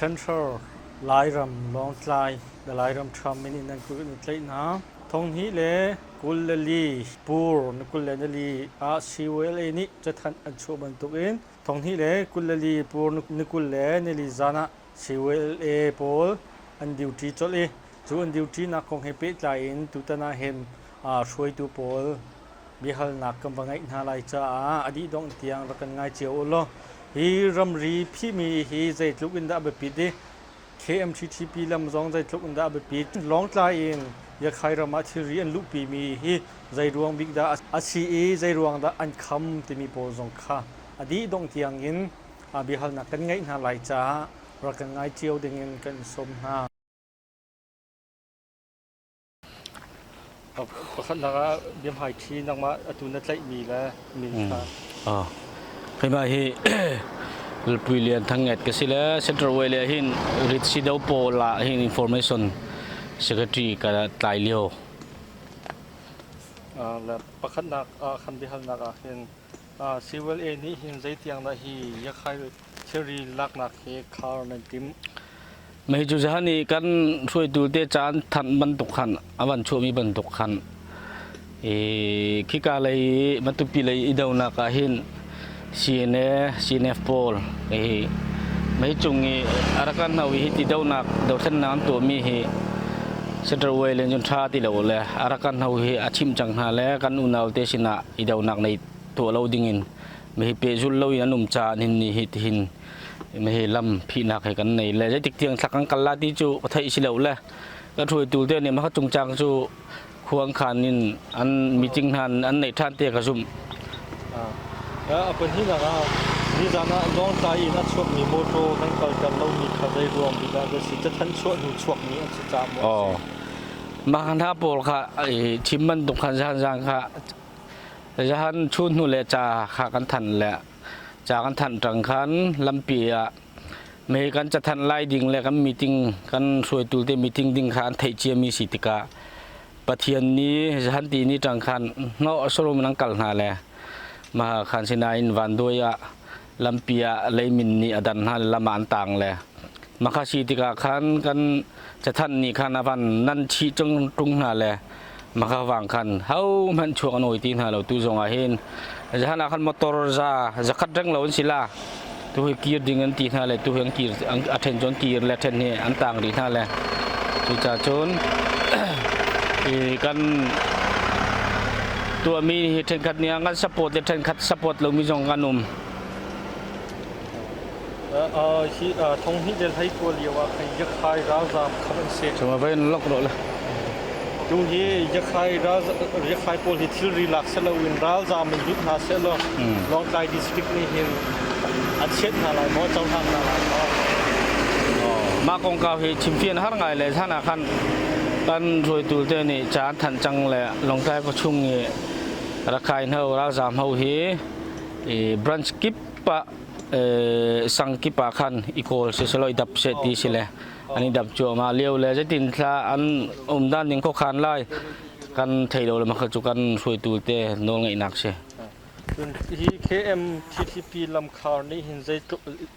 Central Lairam, Lawngtlai le Lairam Trump min in nan kut na tlaih hna. Thonghni le kul le li, Pur ni kul le ni li ah CULA nih cathanh an chuah bantukin thonghni le kul le li, Pur ni kul le ni li zan ah CULA pawl an duty colh i cu an duty nak kong he pehtlai in tutan ah hin hruaitu pawl biahalnak kan va ngeih hna lai caah a dih dongh tiang rak kan ngai cio u law hi ramri phihmi hi zeitluk in dah a biapit i KMTTP lam zong zeitluk in dah a biapit Lawngtlai in Yakhai ram ah thilri an luhpimi hi zei ruang bik dah a si i zei ruang dah an kham timi pawl zong kha a dih dongh tiang in biahalnak kan ngeih hna lai caah rak kan ngai cio dingin kan sawm hna. Pakhatnak ah biahmaiṭhi nangmah atu na tlaihmi le min kha. Keimah hi Lalpui Lian Thang Nget ka si le Central Way le hin Ritsi-do pawl ah hin Information Secretary ka tlai lio. Le pakhatnak ah khan biahalnak ah hin Civil A nih hin zeitiang dah hi Yakkai Mei cu ziahan i kan hruaitu te caan thanh bantuk khan a van chuahmi bantuk khan i khika lei i matupi lei i donak ah hin CNA CNF pawl hi mei cung i a rak kan hno i hiti donak dothlennak an tuahmi hi Central Way len cun tha ti lo le a rak kan hno hi a chimh cang hna le kan unaute sinah i donak nei tuah lo dingin Mehi pehzulh lo in an um caah hin ni hi tihin mehi lam phihnak he kan nei le zeitik tiang thla kan kal la ti cu ka theih si lo le ka hruaitu te nih maka chung cang cu khuang khan in an meeting hnan an nei than te ka zumh a pahninak ah nizan ah lawngtlai in a chuakmi motor kan kalter lomi kha zei ruang bik ah dah si cathan chuah hnu chuakmi an si caah maw mah hna pawl kha chim bantuk khan zan zan kha Zahan chun hnu le ca kha kan than le ca kan thanh tang khan lampi ah mei kan cathanh lai ding le kan meeting kan hruaitu te meeting ding kha an theih ciami si tikah Pathian nih zahan ti ni tang khan no sorum nang kal hna le maha khan sinain vanduai ah lampi ah leimin nih a dan hna le lam ah an tang le makhasi tikah khan kan cathanh nih khan a van nan chih tung tung hna le makha wang khan ho hmanh chuak an oi ti hna lo tu zong ah hin zahan ah khan motor za zakhat reng lo an si la tu hi kir ding an ti hna le tu hi an kir a then chon kir le then hi an tang rih hna le cu ca cun i kan tuahmi hi ṭhenkhat nih an support le ṭhenkhat support lomi zong an um. Uh, hi uh, thong hnih le hlei tuah lio ah khan yakhai ralzaam khamh an si. Cuma vai in lok ro le. Tu hi yakhai yakhai pawl hi thilri lak se lo in ralzaam in lut hna se law Lawngtlai district nih hin a chiat hna lai maw cohlan hna lai maw. Mah kongkau hi chimfian har ngai le sana khan kan ruaitu te nih ca an thanh cang le Lawngtlai khuachung i Rakhine ho ralzaam ho hi branch kip ah sang kip ah khan i kawl siselaw i dap seh ti si le an i dap cuahmah lio le zeitin thla an um dan ding khuakhan lai kan thei lo le makha cu kan hruaitu te nawl ngeihnak si. Hi KMTTP lamkhar nih hin zeitluk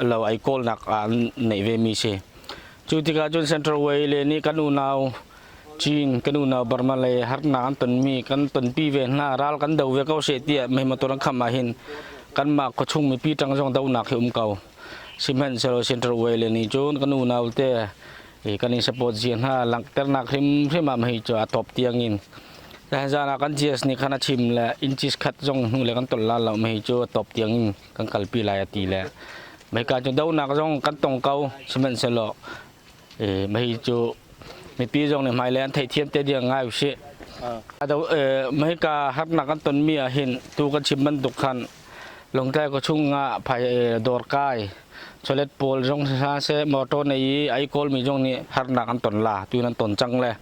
lo ai kawlnak ah an neih ve mi si cu tikah cun Central Way le nih kan unau Chin kan unau Burma le harnak an ton mi kan tonpi ve hna ral kan do ve ko she tiah mei motor an kham ah hin kanmah khuachung mipi tang zong donak hi um ko sihmanhsehlaw Central Way le nih cun kan unau te kan i support zia hna langhternak hrim hrim ah mei cu a top tiang in zan ah kan GS nih khan a chim le inches khat zong hnu le kan ton la lo mei cu a top tiang in kan kalpi lai a ti le meika cu donak zong kan tong ko sihmanhsehlaw mei cu mipi zong nih hmailei an theihthiam te ding ngai usih meika harnak an tonmi ah hin tu kan chim bantuk khan longtlai kua chung ah phai dawr kai chawlet pawl zong si hlah seh motor nei i ai kawlmi zong nih harnak an ton la tu in an ton cang le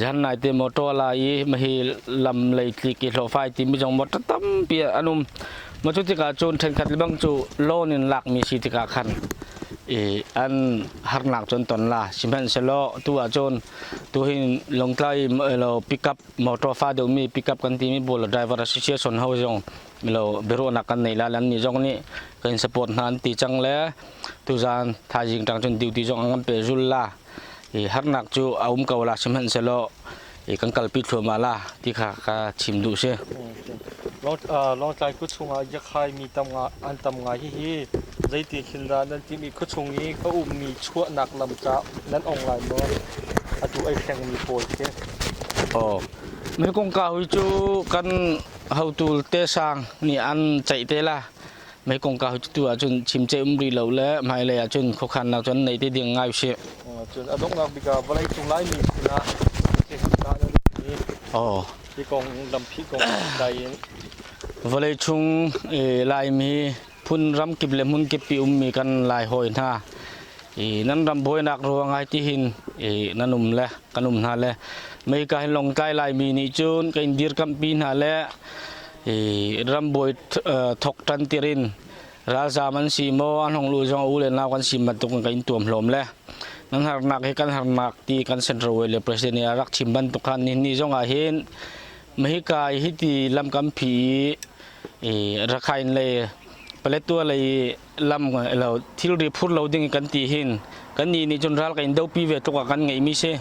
Zan nai te motor la i ma hi lam lei tlik i hlawh fai ti mi zong motor tampi an um. Ma cu tikah cun ṭhenkhat le bang cu loan in lakmi si tikah khan i an harnak cun ton la sihmanhsehlaw tu ah cun tu hin Lawngtlai lo pickup motor fa deuhmi pickup kan timi bullet driver association ho zong lo biaruahnak kan nei la le annih zong nih kan in support hna an ti cang le tuzaan thaizing tang cun duty zong an kan pe zul la i harnak cu a um ko la sihmanhsehlaw i kan kalpi thluahmah la ti kha ka chim duh si. Lawngtlai khua chungah Yakhai mi tam nga an tam ngai hihi zeiti thil dah nan timh i khua chung i ka ummi chuahnak lam ca nan ong lai maw? Atu ai hrengmi pawl khi. Aw, mi kong ka hui cu kan hotu te sang nih an ceih te la. Mai kongka tu ahcun chimce um rih lo le hmailei ahcun khuakhannak cun nei te ding ngai usih. Cun a donghnak bik ah vawlei cung Laimi sin ah cihangka na ritmi oh. hi kong lampi kong dai in vawlei chung Laimi phun ram kip le hmun kip pi ummi kan lai hoi hna i nan ram buainak ruang ai ti hin i nan um le kan um hna le mei kai long kai lai mi nih cun kan dirkampi hna le rambawi thok ṭantir in ralzaam an si maw an hong luh zong a u le nau kan si bantuk in kan in tuam hlawm le nan harnak hi kan harnak ti kan central way le president nih a rak chim bantuk khan ni ni zong ah hin Mexico hi ti lam kampi i Rakhine lei Paletwa lei lam lo thilri phur lo ding kan ti hin kannih nih cun ral kan in dopi ve tluk ah kan ngeihmi si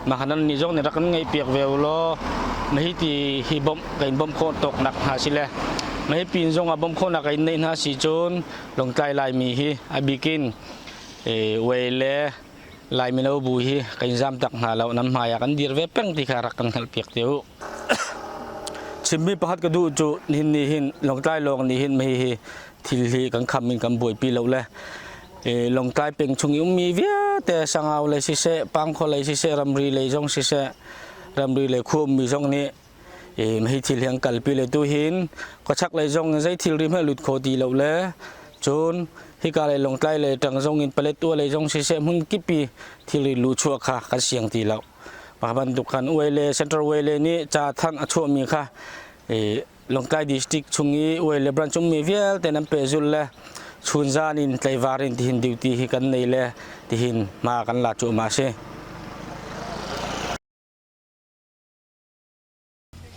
mahkan nih zong nih rak kan ngaihpiak ve u law mahiti hi bawmh kan in bawmh khawh tawk nak hna si le mahi pin zong ah bawmh khawhnak kan in neih hna si cun longtlai laimi hi a bikin wei le lai mino bu hi kan in zam tak hna lo nam hmai ah kan dir ve peng ti kha rak kan hngalh piak te u chimmi pahat ka duh cu nihin ni hin longtlai lawng nih hin mahi hi thil hi kan kham in kan buaipi lo le longtlai peng chung i ummi vialte sangau le siseh pangkhua lei siseh ramri lei zong siseh ramri lei khu ummi zong nih hi thil hi an kalpi le tu hin khuachak lei zong in zei thil ri hmanh lut kho ti lo le cun hika lei longtlai lei tang zong in paletua lei zong siseh hmun kipi thilri lu chuah kha kan siang ti lo pa bantuk kan uai le central way le nih ca thang a chuahmi kha Lawngtlai district chung i uai le brancung mi vialte nan pehzul le chunzan in tleivar in tihin duty hi kan nei le tihin hma kan la cu ma si.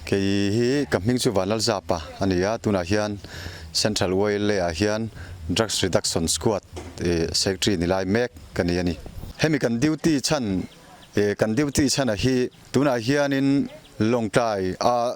Kei hi ka hming chu Van Lal Zapa ani a tunah hian Central Way le ah hian Drugs Reduction Squad secretary ni lai mek ka ni ani. Hemi kan duty chan kan duty chan a hi tunah hian in Lawngtlai a